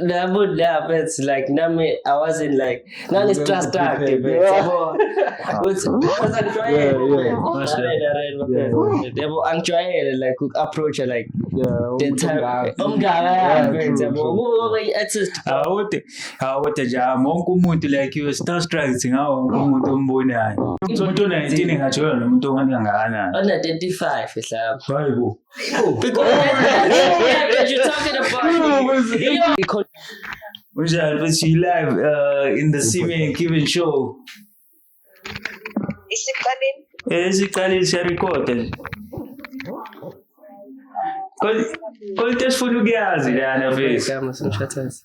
Nabud yeah, but it's like nami I wasn't like nani stress dark but yabo uthi because angijwayele yabo angijwayele like u approach like the time umngaka yakho yabo ngoba i-artist awude awude nje wonke umuntu like you star strikes ngawo wonke umuntu ombonayo umuntu 19 ngathi yona umuntu ongakanani 135 ehlaba hayibo Unjani but you live uh, in the Simi and Kevin show. Isiqaleni. Eh isiqaleni siya record. Kodwa kodwa sifuna ukuyazi lana mfethu. Igama somshatazi.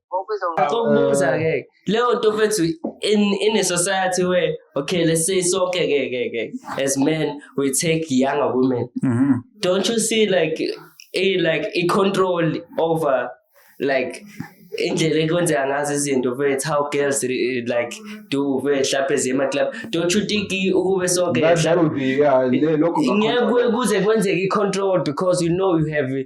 Ngokubuza ke leyo nto mfethu in in a society where okay let's say so okay okay okay, okay. as men we take younger women mm -hmm. don't you see like a like a control over like indlela ekwenzeka ngazo izinto mfethu how girls like do mfethu hlaphe zima club don't you think ukube sonke ngeke kuze kwenzeke i-control because you know you have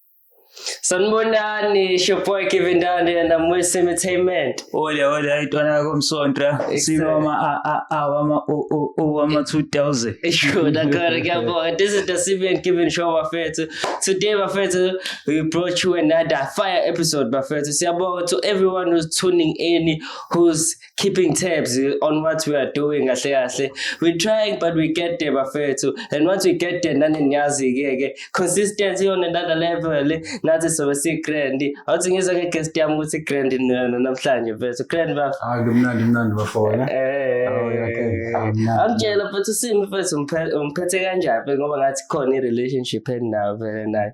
Sanibonani, it's your boy Kevin Dande and I'm with Entertainment. Hola, hola, itwana komsontra. Sinoma a a a wama o o o wama 2000. Sure, dakara kuyabonga. This is the Sibian Kevin show bafethu. Today bafethu we brought you another fire episode bafethu. Siyabonga to everyone who's tuning in, who's keeping tabs on what we are doing kahle kahle we trying but we get there bafethu and once we get there nani niyazi-ke ke consistency on another level nathi sobe si-grand awuthi ngizwa nge-guest yami ukuthi i-grand namhlanje mfethu grand bafo hayi kumnandi mnandi bafona eh, angitshela mfethu simi mfethu umphethe kanjani ngoba ngathi khona i-relationship endinayo vele naye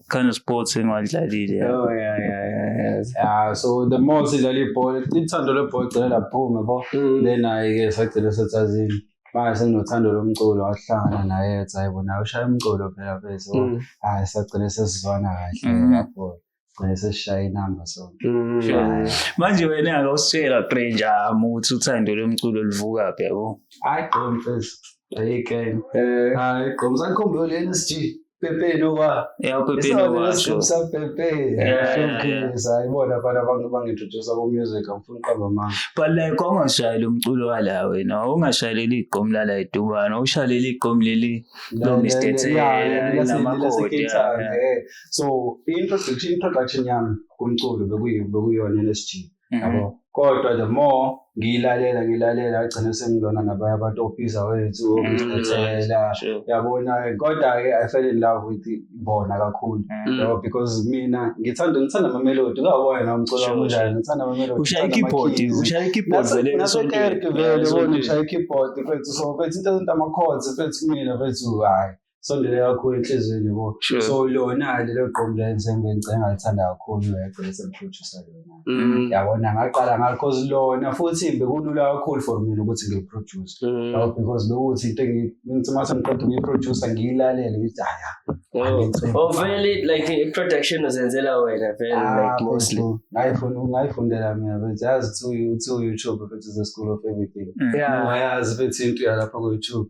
kind of sports engiwadlalile yeah. oh yeah yeah yeah yes. yeah so the more sidlala ibhola ithando lebhola gcina laphume bo mm. then ayike sagcina sethazini manje senginothando lomculo wahlangana naye ethi hayi bona ushaya umculo phela bese mm. hayi sagcina sesizwana kahle mm. lapho gcine sesishaya inamba so mm. manje wena akawusitshela grenja ami ukuthi uthando lomculo luvuka phi yabo hayi gqom mfethu ayike eh. hayi gqom sakhombe le NSG Pepe no wa. Yeah, Pepe no wa. So some Pepe. Yeah, yeah, yeah. Sayibona abantu abantu bangintroduce ku music ngifuna uqamba manje. But like ongashayela umculo wala wena, ongashayeleli igqom lala edubana, ushaleli igqom leli lo Mr. Tsela namakoti. So introduction introduction yami kumculo bekuyiyona NSG. Mhm. yabo kodwa the more ngiyilalela ngilalela agcine sengilona nabanye abantu obhiza wethu Mhm. obizethela Sure. yabona kodwa-ke i fell in love with bona kakhulu Mhm. yabo because mina ngithanda ngithanda amamelodi kawona na umculo Sure, wami unjani sure. ngithanda amamelodi ushaya ngithanda i-keyboard ama-keys. ushaya i-keyboard Nase- vele nasekerke esontweni. vele Yeah, ubona esontweni. ushaya i-keyboard fethu so fethu into ezinto ama-chords fethu kumina fethu hhayi sondele kakhulu enhliziyweni bo Sure. so lona lelo gqomu lenzengo engicela ngalithanda kakhulu yagcina semphrodusa lona Mm. yabona ngaqala ngalo cause lona futhi bekulula kakhulu for mina ukuthi ngiproduce Mm. Yabo, because bekuthi into engi- ngithi uma sengiqeda ukuyiproducer ngiyilalele ngithi haya Oh, oh, vele like i-production uzenzela wena vele Ah, like mostly ngayifundela mina bethi yazi to you- to youtube bethi the school of everything yeah ungayazi bethi into yalapha ku-youtube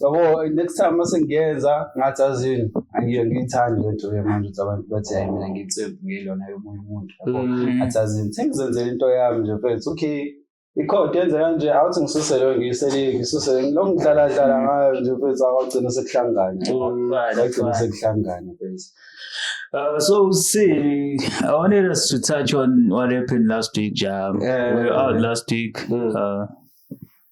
yabo next time mase ngiyenza ngathi azini angiyo ngiyithandi le nto manje ukuthi abantu bathi hayi mina ngiyitsembu ngiyilona yomunye umuntu yabo mm. athi azini sengizenzela into yami nje mfethu okay ikhodi yenze kanje awuthi ngisuse leyo ngiyisele ngisuse lokhu ngidlala dlala mm. ngayo nje mfethu awagcina sekuhlangane agcina mm. sekuhlangane mfethu Uh, so see, I wanted us to touch on what happened last week, Jam. Yeah, we were out last week. Mm. Uh,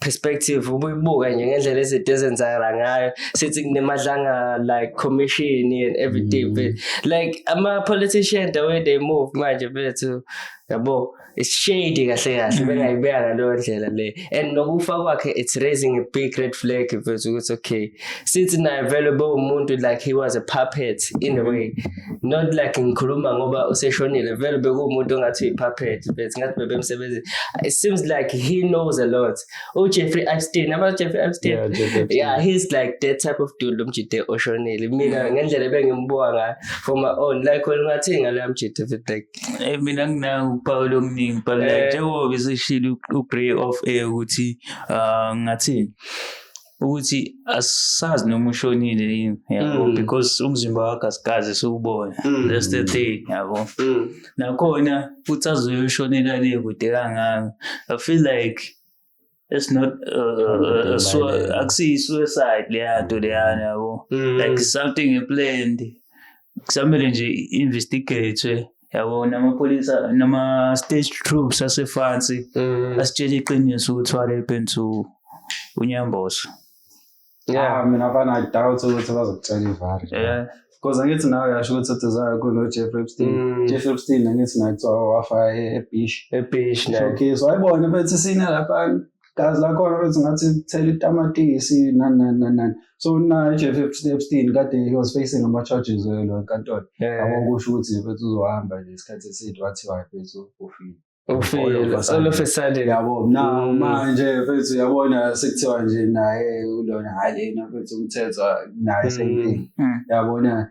perspective ubuyibuka nje ngendlela izinto ezenzakala ngayo sithi kunemadlanga like commission and everything mm. but like ama politician the way they move manje bethu yabo it's shady kahle kahle mm. bengayibeka ngaleyo ndlela le and nokufa kwakhe it's raising a big red flag mfethu ukuthi okay sithi naye vele bo umuntu like he was a puppet in a way not like ngikhuluma ngoba useshonile vele bekuwumuntu ongathi uyi-puppet but ngathi bebemsebenzini it seems like he knows a lot ujeffrey oh, epstein aba jeffrey epstein yeah, jeffrey epstein. yeah he's like that type of dude lomjide oshonile mina ngendlela ebengimbuka ngayo for my own like olungathi ngaleya mjide fit like eh mina nginawo uphawu lomningi but like eh. njengoba besishilo ugrey off air ukuthi ah, ngathini ukuthi asazi noma ushonile yini yabo mm. because umzimba wakhe asikaze siwubone mm. that's the thing yabo mm. nakhona futhi azoyoshonela le kude kangaka i feel like it's not uh, uh, akusiyi-suicide leya nto leyana yabo like something planned kusamele nje investigate yabo namapholisa nama-stage troops asefansi Mm. asitshela iqiniso ukuthi what happened to unyamboso Yeah. Ah, mina fana i doubt ukuthi bazokutshela ivari Eh, because angithi nawe yasho ukuthi uduzayo kunojeff epstein Mm. jeff epstein angithi naye kuthiwa wafa e- ebish Ebish naye. showcase wayibona bethi sine laphana gazi lakhona bese ngathi kuthela itamatisi nani nani nani nani so naye nje Epstein kade he was facing ama charges welo enkantolo yabo kusho ukuthi bese uzohamba nje isikhathi eside wathiwa bese ufile ufile solo fesale yabo na mm. manje bese uyabona sekuthiwa nje naye ulona hayi lena bese umthetho naye mm. same thing mm. yabona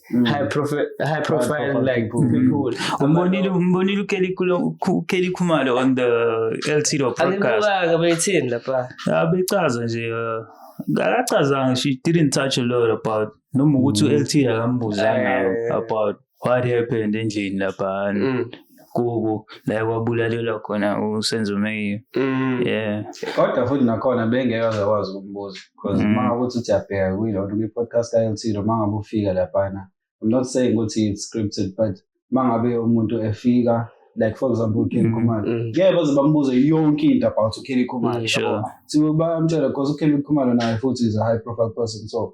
Mm. high profile high profile profile like people. people umbonile umbonile ukelly Kulo- Ku- ukelly khumalo on the ltdo podcast angibukanga beyithini lapha Ah, bechaza nje eh, akachazanga she didn't touch a lot about noma ukuthi u-lt akambuzanga Eh. about what happened endlini lapha and Mm. kuku la kwabulalelwa khona usenzo meyiyo mm. yeah kodwa futhi nakhona bengeke aze kwazi ukumbuza because mm. uma ngabe uthi uyabheka kuyilona kwi-podcast ka-ltilo uma ngabe ufika laphana i'm not saying ukuthi it's scripted but uma ngabe umuntu efika like for example uKelly mm, Khumalo mm. ngeke baze bambuze yonke into about uKelly Khumalo mm, sure. so bamtshela because uKelly Khumalo naye futhi is a high profile person so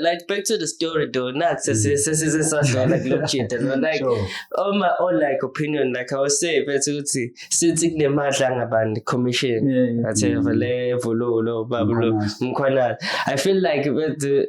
like back to the story though not sesisesasona kulokujida no like all my own like opinion like i was saying bethi ukuthi since kunemadla angabantu commission atheva le vululo babulo mkhwanazi i feel like bethi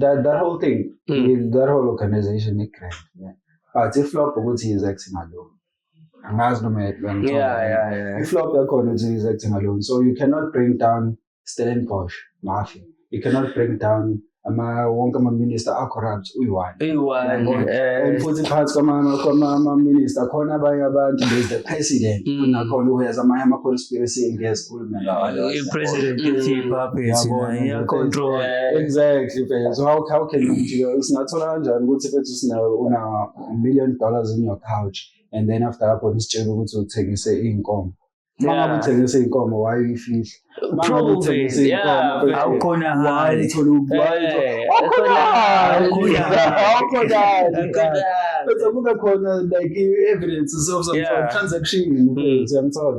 that, that whole thing mm. that whole organization igrand yeah. but iflop ukuthi yizact ngaloo angazi noma iflop yakhona ukuthi yizact ngaloo so you cannot bring down stellenbosch mafia you cannot bring down ama wonke amaminister acorrupt uyi-one and futhi phakathi kwamaminister khona abanye abantu there's the president mm. kunakhona uyazi amanye ama-conspiracy engezwa president uthi ipuppet naye iyacontrol exactly phela so how, how can you jika singathola kanjani ukuthi fethu sina una million dollars in your couch and then after lapho nisitshela ukuthi uthengise iy'nkomo uma ngabe uthengise iy'nkomo wayeyifihla uma ngabe uthengise iy'nkomo awukhona hali bese kube khona like i-evidence of some transaction mm. uyamthola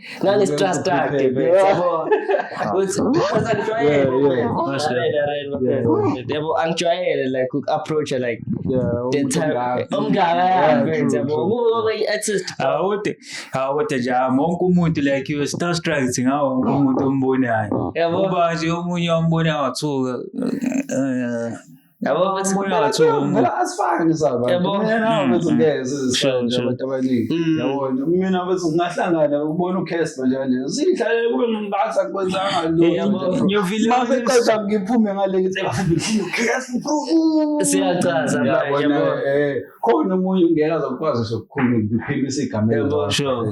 ngangistrust yakhe yabo yabo angijwayele like uku-approacha like omngaka yakhe awude jama wonke umuntu like you star strikes ngawo wonke umuntu ombonayo yabo uba nje omunye ombonayo wathuka yabo ukuthi umoya wathi ngeke asifake nesaba yabo mina nawe mm, bethi mm. ngeke sizisonje abantu abaningi mm. yabo mina bethi ungahlangana ubona ucast manje kanje sidlalele kube ngingathi akwenzanga lo yabo ngiyovile mase qeda ngiphume ngale ngithi ngifuna ucast bro siyacaza yabo eh, khona umunye ngeke azokwazi sokukhuluma ngiphimisa igama yabo sure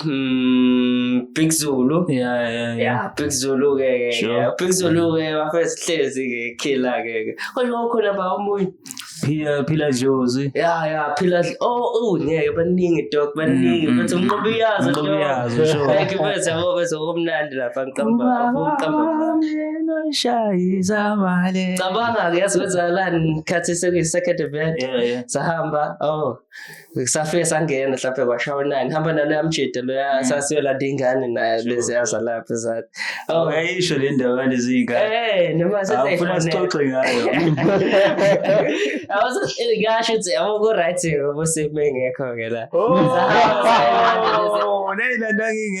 Mm, Big Zulu. Yeah, yeah, yeah. Yeah, Big Zulu ke ke. Sure. Yeah, Big Zulu ke bafethu hlezi ke killer ke. ke. Kodwa kwakukhona ba omunye. Phila phila Jozi. Ya ya phila dl- oh oh ngeke baningi dog baningi Mm, bethu mm, umqobo iyazo Umqobo dog. iyazo, sure. Ngeke bethu yabo bethu kumnandi lapha ngiqamba ngiqamba. Cabanga ke yazi kwenzakalani ngikhathi sekuyi second event. Yeah, yeah. Sahamba oh kusafike sangena mhlawumbe kwashawa nani hamba naloya mjida loya mm. sasiyolanda ingane naye leziya zalapha zathi oh. ayisho le ndawo yalezi iy'ngane noma sefuna sixoxe ngayo ngasho ukuthi yabo ku-right ngoba sekube ngekho-ke la oh, neyilandangingekho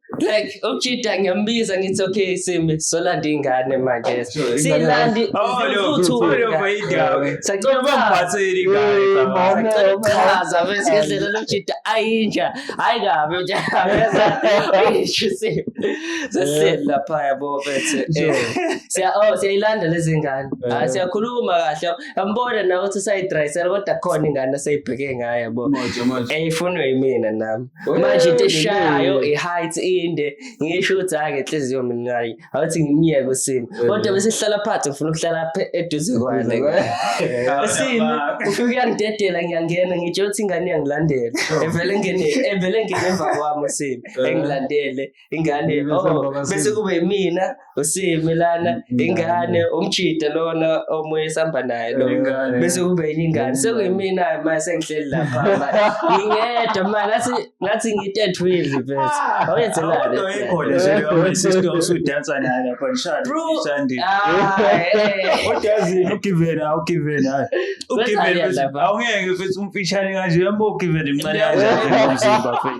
like ukujida ngiyambiza ngithi okay simi solanda ingane manje silandi sachaza bese ngendlela lokujida ayinja hayi kabi uyishisi sesihlela lapha yabo bethe eh, siya oh siyayilanda lezi ngane eh. ah, siyakhuluma kahle yambona nawe ukuthi usayidrayisela kodwa khona ingane aseyibheke ngayo yabo eyifunwe yimina nami manje into eshayayo i-height inde ngisho ukuthi hhayi ngenhliziyo mina hhayi awuthi ngimyeke usimo kodwa bese sihlala phansi ngifuna ukuhlala eduze kwale usimo ufike uyangidedela ngiyangena ngitsho ukuthi ingane iyangilandela evele ngene evele ngene emva kwami usimo engilandele ingane oh bese kube mina usimi lana ingane umjida lona omunye sihamba naye lo bese kube enye ingane sekuyimina manje sengihleli lapha ngingedwa manje ngathi ngathi ngitend wheel bese ah, awenzelani kodwa ikhona nje leyo sister usudansa naye lapha nishadi nishadi udazi ugiven awugiven hayi ugiven awungeke futhi umfishane kanje yambo ugiven imncane kanje umzimba futhi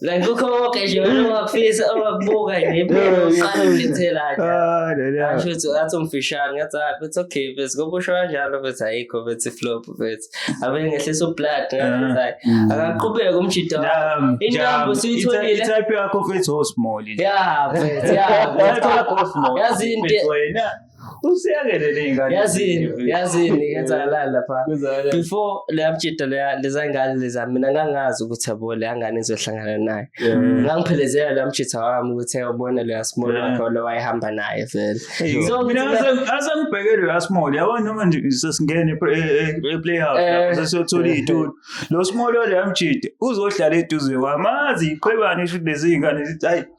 Like kukho konke nje wena ongakufisa ongakubuka nje impela uqala ulithela nje. Ah, no, no. Asho ukuthi ngathi umfishane ngathi hayi bethi okay bethi ngoba usho kanjalo bethi ayikho bethi flop bethi abe ngehlisa ublood ngathi hayi akaqhubeke umjito Jam, intambo jam. siyitholile Ita- Itype yakho mfethu osmall. Yeah, mfethu, yeah, mfethu. Itype yakho osmall. Yazi into- Mfethu wena. usiyakelele ingane yazini yazini yenzakalani lapha before leyabjida leya lezangane leza mina ngangazi ukuthi yabo leyangane izohlangana naye ngangiphelezela leyamjitha wami ukuthi eyobona leya small wakhe lo wayehamba naye vele so mina asengibheke leya small yabo noma nje sesingene eplayhouse eh, eh, eh, sesiyothola iy'tulo lo small oleyamjida uzohlala eduze kwami azi iqhwebane isho lezi iy'ngane zithi ayi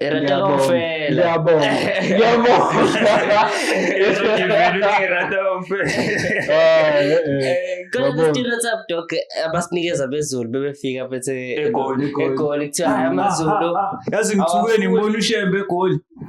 Era de Longfela. Ja, bom. Ja, bom. Eu sou de velho que era de Kodwa kustira tsap dok abasinikeza bezulu bebefika bethe egoli egoli kuthiwa hayi amazulu. Yazi ngithukweni ngibona ushembe egoli.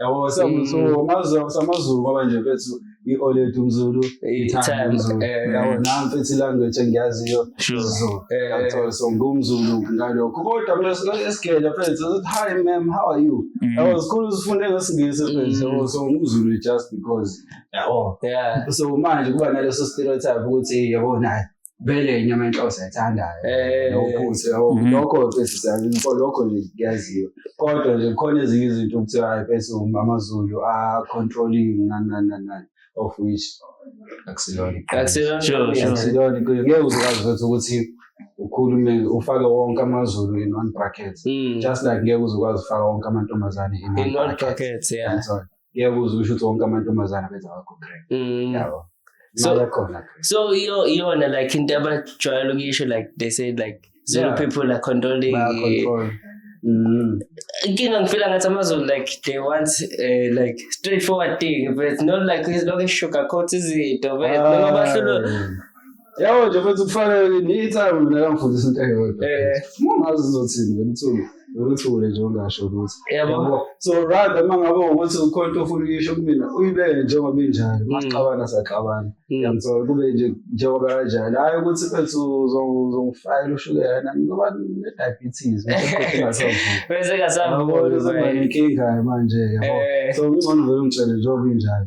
yabo samazulu ngoba nje mfethu i-olet umzulu i-times eh, yabo nam mfethu ilanguage engiyaziyo zulu eh, so ngumzulu ngalokho kodwa mina esigele mfethu ukuthi hi ma'am how are you mm. yabo zikhulu zifunde ngesingisi mfethu yabo mm. so ngumzulu just because yabo so manje kuba naleso stereotype ukuthi yabo naye vele inyama yenhloko siyayithandayo eh. nophuthu mhm. lokho sesiyalinfo lokho nje kuyaziwa kodwa nje kukhona ezinye izinto okuthiwa ayiphethe amazulu a-controlling nani nani nani of which akusilona akusilona ngeke uzokwazi ukuthi ukuthi ukhulume ufake wonke amazulu in one bracket mm. just like ngeke uzokwazi ufaka wonke amantombazane in one bracket yeah ngiyakuzwa usho ukuthi wonke amantombazana benza wakho crack mm. yabo so so iyo iyona like into abajwayele ukuyisho like they say like zero yeah. people are controlling Mm. inkinga ngifila ngathi amazulu like they want uh, like straightforward thing but not like izilokhu eshuga coat izinto but noma bahlulwa Yabo nje futhi kufanele ukuthi ni time mina kangifundisa into eyodwa. Eh. Ungazi uzothini wena uthuku. Uthule nje ungasho ukuthi. Yabo. So rather uma ngabe ukuthi ukhona into ofuna ukuyisho kumina uyibeke njengoba injalo. Mm. Masixabana saxabana. Mm. Yangithola kube nje njengoba kanjalo. Hayi ukuthi mfethu uzongifayela ushukela nami ngoba ne diabetes. Bese kasavuka. Yabo. Inkinga manje yabo. Eh. So ungcono vele ungitshele njengoba injalo.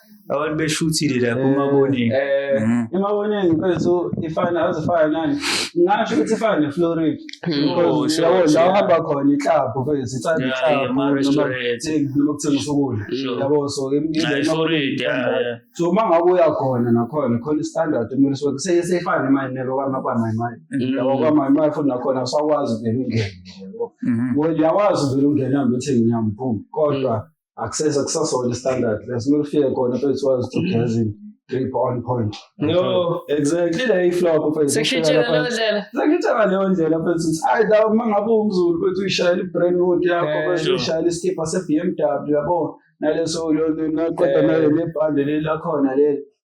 abantu beshuthile la kumabonini eh Mhm. emaboneni mfethu ifana azifana nani ngasho ukuthi ifana ne-florid Oh, sure, yabo la sure. uhamba khona iklabhu mfethu ithanda Yeah, yeah, iklabhu ama-restaurant. noma kuthengisa ukudla Sure. yabo so im- Nah, indlela i-florid yeah, standard. yeah. so uma ngabe uya khona nakhona khona istandard kumele sibe seye seyifane imali nelo kwamakwamayimayi Mm. yabo kwamayimayi futhi nakhona awusakwazi vele ungene yabo Mhm. Well, uyakwazi vele ungena mbe uthenge inyama boom kodwa akusese kusasona standard leso kumele ufike khona phezulu wazi ukuthi ugezini drip on point no exactly le iflop phezulu sekushintshela leyo ndlela sekushintshela leyo ndlela phezulu ukuthi ayi la uma ngabe umzulu phezulu uyishayela i-brandwood yakho eh, phezulu uyishayela iskipha se-b m w yabo naleso naqeda eh. nale lebhande leli lakhona leli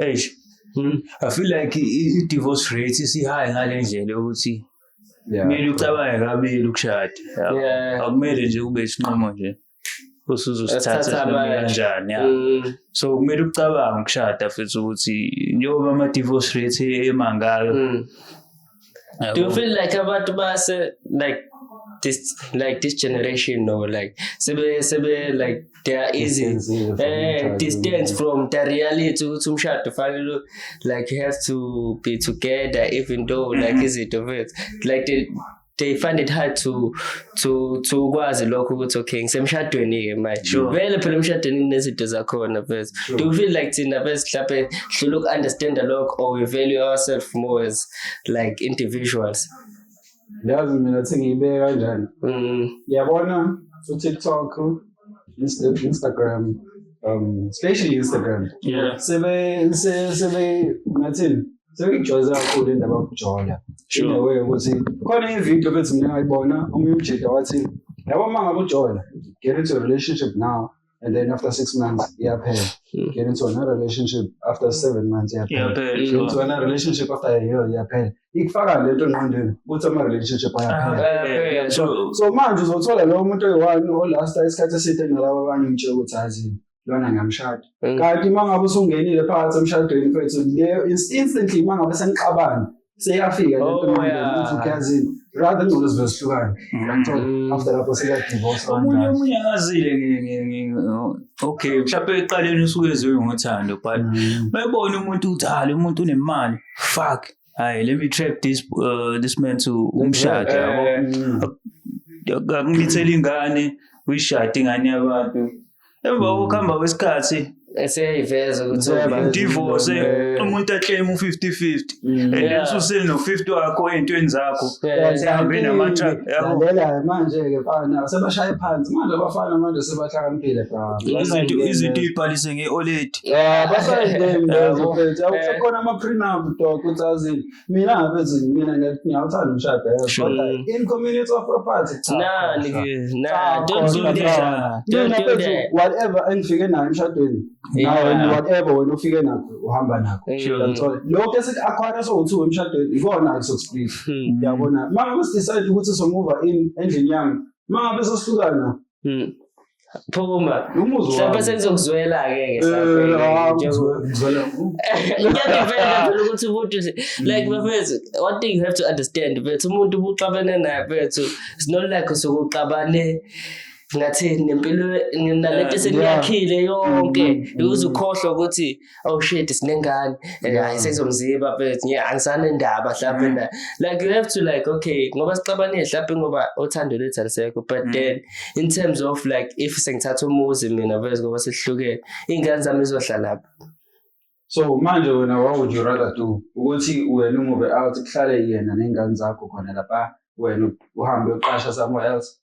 eish Hmm. I feel like i- i- divorce rate isihaye ngale ndlela yokuthi Yeah. kumele ucabange kabili ukushada yabo. Yeah. akumele nje ube isinqumo nje usuzosithatha Esithatha sinqumo abanye. kanjani ya Mm, so kumele ucabange ukushada futhi ukuthi njengoba ama-divorce rate emangaka mm, do you feel like abantu base like this like this generation no like sebe sebe like they are easy eh distance from the reality ukuthi umshado fanele like you have to be together even though like mm-hmm. izinto like they they find it hard to to to ukwazi lokho ukuthi okay ngisemshadweni ke manje sure. vele phela emshadweni kunezinto zakhona first sure. do you feel like thina first mhlawumbe hlula uku-understand lokho or we value ourselves more as like individuals yazi mina thi ngiyibeke kanjani mm. yabona utiktok instagram um especially instagram yeah. sebe sebe ngathini Sengijwayeze kakhulu indaba yokujola. Sure. Indaba yokuthi khona ivideo bethi mina ngayibona omunye umjita wathi yabo uma ngabe ujola get into a relationship now and then after six months iyaphela. Hmm. Get into another relationship after seven months iyaphela. Iyaphela, Get sure. into another relationship after a year iyaphela. Ikufaka lento engqondweni ukuthi ama relationship ayaphela. Yeah, So, true. so manje uzothola lowo muntu oyi-one olasta isikhathi eside nalabo abanye umtshela ukuthi azini lona ngiyamshada mm. kanti uma ngabe usungenile phakathi emshadweni mfethu leyo instantly uma ngabe senixabana seyafika lento oh, manje ukhazini rather ngcono zibe zihlukane ngiyangithola mm. after lapho sika divorce omunye omunye akazile okay mhlawumbe eqaleni usuke eziwe ngothando but mayibona mm. umuntu uthale umuntu unemali fuck hayi let me trap this uh, this man to umshado yabo eh. akumithela ingane uyishade ingane yabantu emva kokuhamba hmm. kwesikhathi eseyayiveza ukuthi divorce eh. umuntu aclaim u-50-50 hmm. and then suseli no-50 wakho ey'ntweni zakho sihambe namatralela manje-ke fana sebashaye phansi manje abafana manje sebahlakaniphile izinto ibhalise nge-oledi Ah, basayideli lezo mfethu akusekhona eh. ama-prenup dok ukuthi azini mina ngabezini mina ngiyawuthanda umshado kodwa in community of property whatever engifike nayo emshadweni nawe whatever wena ufike nakho uhamba nakho lokho esiku-akhwara sowu-two emshadweni ikona-ke sokusplit hmm. yabona uma ngabe sidecide ukuthi somuva in endlini yami uma ngabe sohlukana Hmm. phuma mhlawumbe sengizokuzwela-ke ngiyadifenda phela ukuthi umuntu like bafethu one thing you have to understand bethu umuntu ubuxabene naye bethu sinolakho sokuxabane ngathi nempilo nalento eseniyakhile yonke uze ukhohlwa ukuthi oh shit sinengane eh, yeah. hayi sezomziba but nje angisane ndaba mhlawumbe mm. na like you have to like okay ngoba sixabane mhlawumbe ngoba uthando lethu alisekho but mm. then in terms of like if sengithatha umuzi mina vese ngoba sihlukene ingane zami izohlala lapha so manje wena what would you rather do ukuthi wena umuve out kuhlale yena nengane zakho khona lapha wena uhambe uqasha somewhere else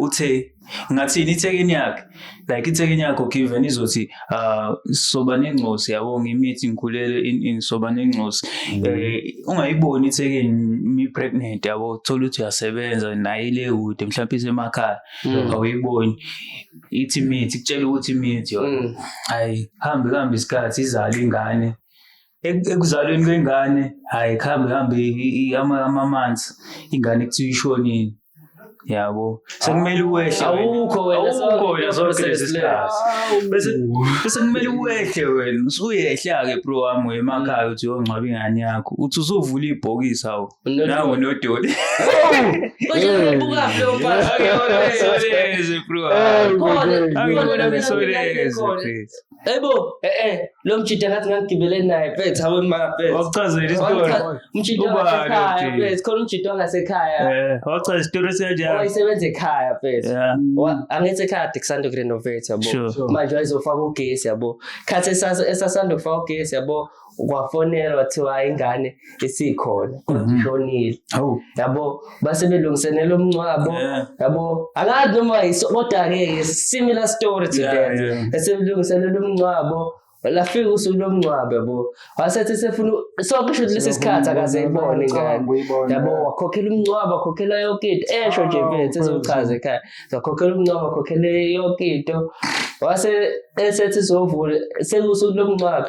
uthe ngathini ithekeni yakhe like ithekeni yakho given izothi uh soba nengcosi yabo ngimithi ngikhulele in in soba nengcosi mm. eh ungayiboni ithekeni mi pregnant yabo thola ukuthi uyasebenza naye le kude mhlawumbe isemakhaya mm. awuyiboni ithi mithi kutshela ukuthi mithi yona mm. hayi hambe kambe isikhathi izala ingane Ek- ekuzalweni kwengane hayi kuhambe hambe i- i- ama- amamanzi ingane kuthiwa ishonile yabo sekumele uwehle wena. Awukho wena, awukho so- wena zonke process lezi le. sikhathi bese bese kumele uwehle wena usuyehle-ke bro wami wemakhaya uthi uyongcwaba ingane yakho uthi usuvula ibhokisi awu Unodoli. nawo nodoli Manje uyabukaphi lo mfana? Angibona ngisoleze, bro wami. Khona, Angibona khona, ngisoleze, khona. please. Ebo, eh eh, lo mjita ngathi ngagibele naye phethe awe ma phethe. Wakuchazela isitori. Mjita wasekhaya phethe, khona umjita wangasekhaya. Eh, wakuchazela isitori senjalo. Wayisebenza ekhaya phethe. Yeah. Angithi ekhaya kusanda kurenovate yabo. Manje wayezofaka ugesi yabo. Khathi esasanda kufaka ugesi yabo. kwafonela wathiwa ingane isikhona kodwa Mhm. ishonile Hawu. yabo base belungiselela umncwabo Yeah. yabo angazi noma yiso kodwa ke similar story to Yeah, that yeah. esemlungiselela umncwabo lafika usuku lomncwabo yabo wasethi sefuna sonke shuthi lesi sikhathi akaze ibone ingane yabo wakhokhela umncwabo wakhokhela yonke into esho nje Oh, mfethu ezochaza ekhaya wakhokhela umncwabo wakhokhela yonke into wase esethi sovula sekusuku lomncwabo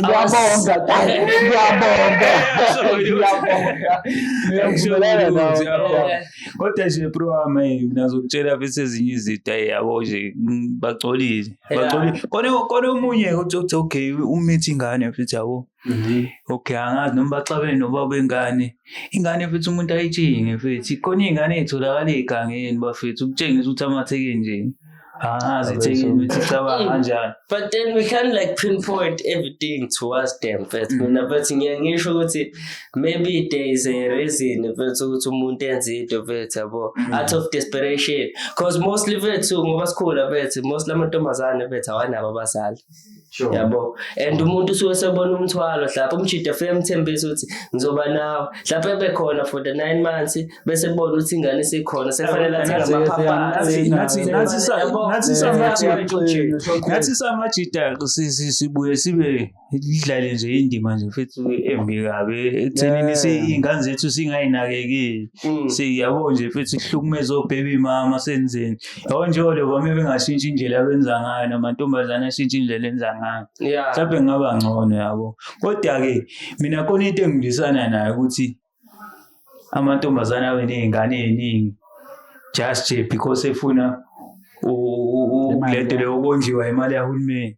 Ngiyabonga dad. Ngiyabonga. Ngiyabonga. Ngiyakubulala nawe. Ngiyabonga. Kodwa nje bro wami hey, mina ngizokutshela bese ezinye izinto hey yabo nje mm, bagcolile. Yeah. Bagcolile. Kone kone omunye uthi uthi, okay umithi ingane futhi yabo. Okay angazi noma baxabene nobaba wengane. Ingane futhi umuntu ayitshinge futhi. Khona ingane etholakala egangeni bafethu ukutshengisa ukuthi amatheke nje. Ah, zithekile ukuthi icabanga kanjani. But then we can't like pinpoint everything towards them but mm. mina but ngiye ngisho ukuthi maybe there is a reason bethu ukuthi umuntu enze into bethu yabo mm. out of desperation because mostly bethu ngoba sikhula bethu mostly amantombazane bethu awanabo abazali. Sure. yabo and umuntu usuke sebona umthwalo hlapha umjida afike emthembisa ukuthi ngizoba nawe hlapha ebekhona for the nine months bese bona ukuthi ingane isikhona sefanele athenge Nathi- amaphaphathi nathi- nathi sa- Yabo, nathi sa- nathi- ngathi samajida si- si- sibuye sibe idlale nje indima nje futhi embi kabi ekuthenini Yeah. si- iy'ngane zethu singayinakekeli Mm. siyabo nje futhi sihlukumeze obhebi mama senzeni Yabo nje lokho uma bengashintsha indlela abenza ngayo namantombazane ashintsha indlela enza ngayo. Yeah. Mhlawumbe kungaba ngcono yabo. Kodwa-ke mina khona into engidlisana nayo ukuthi amantombazane abe ney'ngane ey'ningi just nje because efuna u- u- u- Imali le nto leyo ukondliwa imali yahulumeni.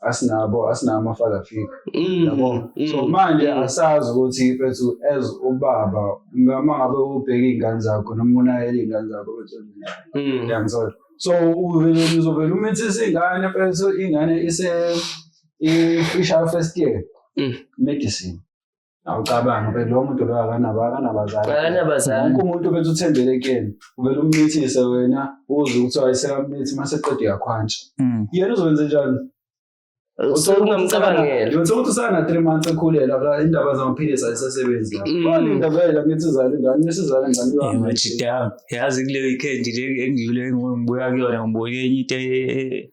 asinabo asinabo ama-father figure mm, yabo mm, so manje mm. asazi ukuthi fethu as ubaba uma ngabe ubheka iy'ngane zakho noma unayela iy'ngane zakho fethu yangithola so uvele uzovele umithisa ingane fethu ingane ise i-fisher first year medicine awucabangi vele lowo muntu loyo akanabo akanabazali akanabazali wonke umuntu uvele uthembele kuyena uvele umncithise wena uze ukuthiwa isekamnithi uma seqeda uyakhwantsha mm. yena uzokwenze njani so ungamcabangela yona sokuthi usana three months ekhulele aka indaba zamaphilisi ayisasebenzi la mm. wani indaba yela ngithi izale ngani nesizale ngani yona yazi kuleyo weekend le engiyule ngibuya kuyona ngibonye enye into e- e- e-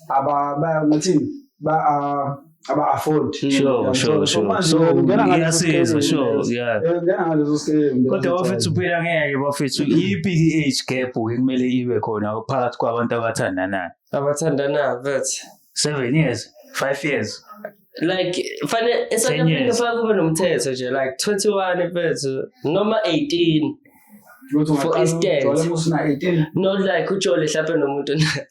aba bayathini ba ah, aba afford hmm. sure sure sure so ungena ngaleso sure yeah eh, ungena ngaleso scale kodwa bafethu uphila ngeke bafethu iphi age gap kumele ibe khona phakathi kwabantu abathandanayo abathandanayo but 7 years 5 years like fanele esanyaphinde faka kube nomthetho nje like 21 mfethu noma 18 for instance not like ujole mhlawumbe nomuntu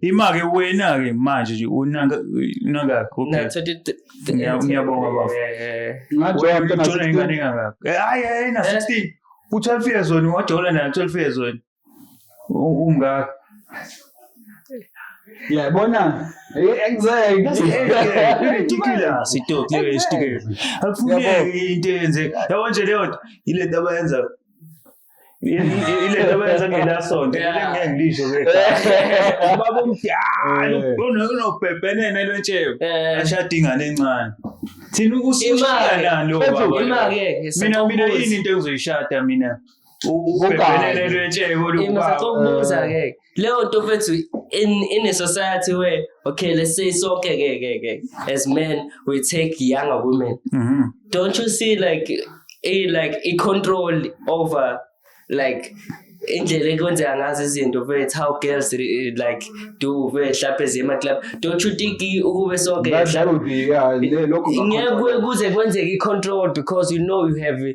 Imake wena ke manje nje unaka unaka okay. Ngiyabonga bafo. Ngajola mntana uthola ingane engakakho. Eh, hayi hayi na 16. U 12 years old wajola na 12 years old. Umngaka. Yabona anxiety sitoki leyo esitike akufuneki into eyenzeka yabo nje leyo nto ile nto abayenza ile nto benza ngelasonto ile ngeke ngisho ke ubaba omdala unobhebhenene lwentsheko ashada ingane encane thina ukusushiyana lo baba mina mina yini into engizoyishada mina ubhebhenene lwentsheko lo baba leyo nto mfethu in in a society where okay let's say sonke ke ke ke as men we take younger women mm -hmm. don't you see like a like a control over like indlela ekwenzeka ngazo izinto vethu how girls like do vehlaphe zema club don't you think ukube sonke ngeke kuze kwenzeke i-control because you know you have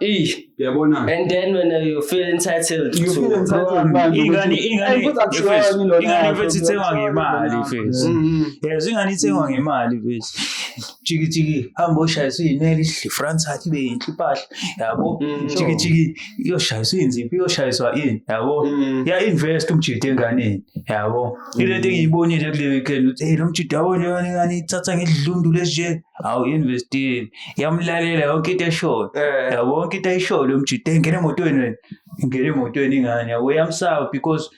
Eyi, Uyabona? and then when uh, you feel entitled You to- feel entitled manje ingane ukuthi- ingane Hey, futhi angishoni yes, lona, ingane angishoni mfethu ithengwa lona. ngemali mfethu Mhm. yes ingane ithengwa ngemali mfethu jikijiki hamba oshayisa uyineli ihle france athi ibe yinhle impahla yabo Mm. jikijiki iyoshayisa uyinziphi iyoshayiswa ini yabo Mm. ya-invest umjida enganeni yabo ilento engiyibonile kule weekend ukuthi hey lo mjida yabo njengani ingane ithatha ngedlundu leje awu-investini yamlalela yonke into eshoyo Eh. yabo yonke into ayishoyo lo mjita ngena emotweni wena ngena emotweni ingane yabo yamsaba because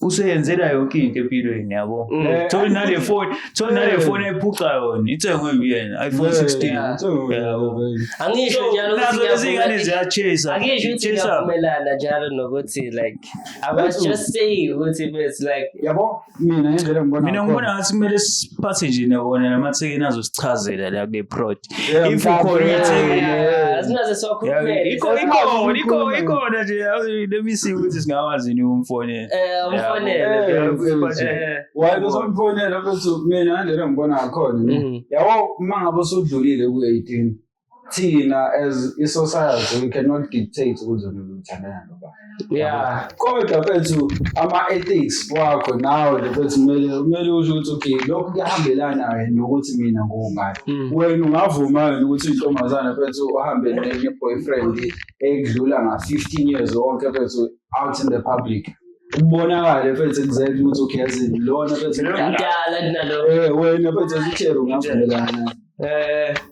useyenzela yonke into empilweni yabo Mm. Eh. tholi nale foni tholi nale Eh. foni ayiphuca yona ithengwe uyena iphone Yeah, 16 yeah, it's all right, Yabo. baby. angisho So, njalo ukuthi nazo lezi ngane ngiyavuma- ziyachase angisho ukuthi Chase up. ngiyavumelana njalo nokuthi like i was just saying ukuthi it's like yabo mina ngendlela ngibona mina ngibona ngathi kumele siphathe nje nabona namathekeni azosichazela la kule prod if ukhona ethekeni asinaze sokhulumela ikho ikho ikho ikho nje let me see ukuthi singawazi ni umfonela eh umfonela eh, why uzomfonela bese mina ngendlela ngibona ngakhona mm. yabo uma ngabe usudlulile ku 18 thina as i-society we cannot dictate ukuthi umuntu uthandana noba yeah kodwa bethu ama-ethics wakho nawe nje bethu kumele kumele usho ukuthi okay lokhu kuyahambelana yini nokuthi mina ngubani mm. wena ungavuma yini ukuthi intombazana bethu uhambe ne-boyfriend ekudlula nga-fifteen years wonke bethu out in the public kubonakale mfethu exactly ukuthi ukhezini lona mfethu mdala kunalo eh wena mfethu uthero ngavumelana eh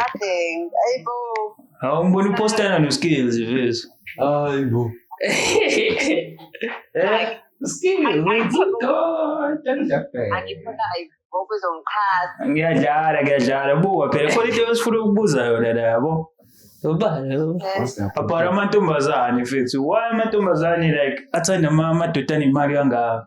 Nothing. Hey, boo. How am going to post that on your skills if it is? Ay, bo. Like, Skills, I- I- where's it gone? Don't jump back. angifuna like ngokuzongixhasa. Ngiyadlala, ngiyadlala. Buka phela khona into esifuna ukubuza yona la yabo. Ubani? What's that? Apara amantombazane mfethu. Why amantombazane like athanda ama- amadoda anemali kangaka?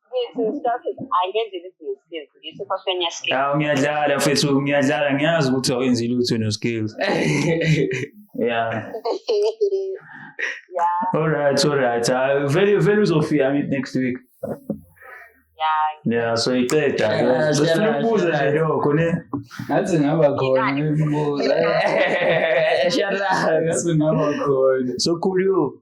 awu ngiyadlala mfethu ngiyadlala ngiyazi ukuthi awenzi lutho no-skills ya alright alright hayi vele vele uzofika meet next week ya so iqeda Yeah, sifuna siyalazi, ukubuza nje siyalazi. lokho ne ngathi ngaba khona imibuzo Shut up. ngathi ngaba khona so cool you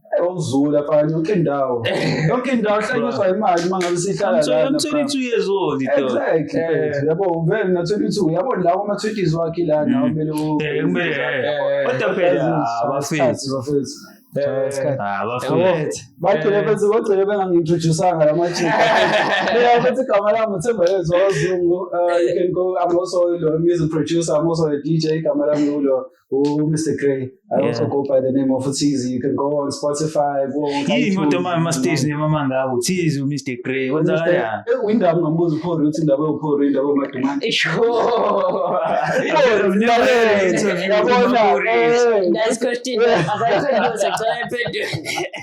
Ewuzula afana yonke indawo. Yonke indawo hlanyiswa imali uma ngabe sihlala I'm lana. 22 years old ito. Exactly. Eh. mfethu. Yabo vele na 22 yabo la kuma 20s wakhe la na kumele u Eh, kumele, eh, kodwa phela, ah, bafethu. bafethu. Eh, Ah, bafethu. Yabo, bagcine Eh. bese bagcine bengangintroducanga la majika. Mina futhi igama lami uThemba Yezwa Zungu. Uh, you can go I'm also a music producer, I'm also a DJ igama lami ulo. Oh, Mr. Gray. I yeah. also go by the name of Tizi. You can go on Spotify, go on Yini kodwa manje ama-stage name amangako Tizi uMr Gray kwenzakala uyindaba ungambuza uphori ukuthi indaba ewuphori indaba omadumane yabona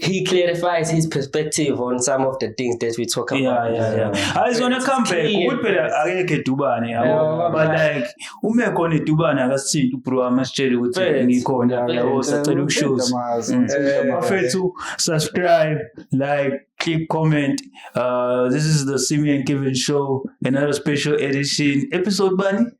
he clarifies his perspective on some of the things that we talk about. Yeah, yeah, yeah. Hayi zona comeback ukuthi phela akekho edubane yabo. But like uma ekhona edubane akasithinti ubro wami asitshele ukuthi ngikhona yabo sacela ukushows. Bafethu subscribe, like, click comment. Uh, this is the Simi and Kevin show, another special edition. Episode bani?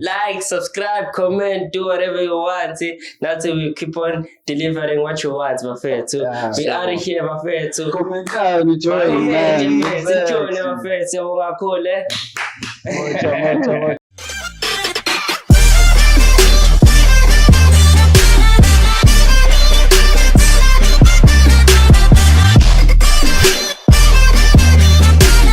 like subscribe comment do whatever you want nathi we keep on delivering what you want bafethu yeah, we are here bafethu komentani join man sijone bafethu ungakhule moja moja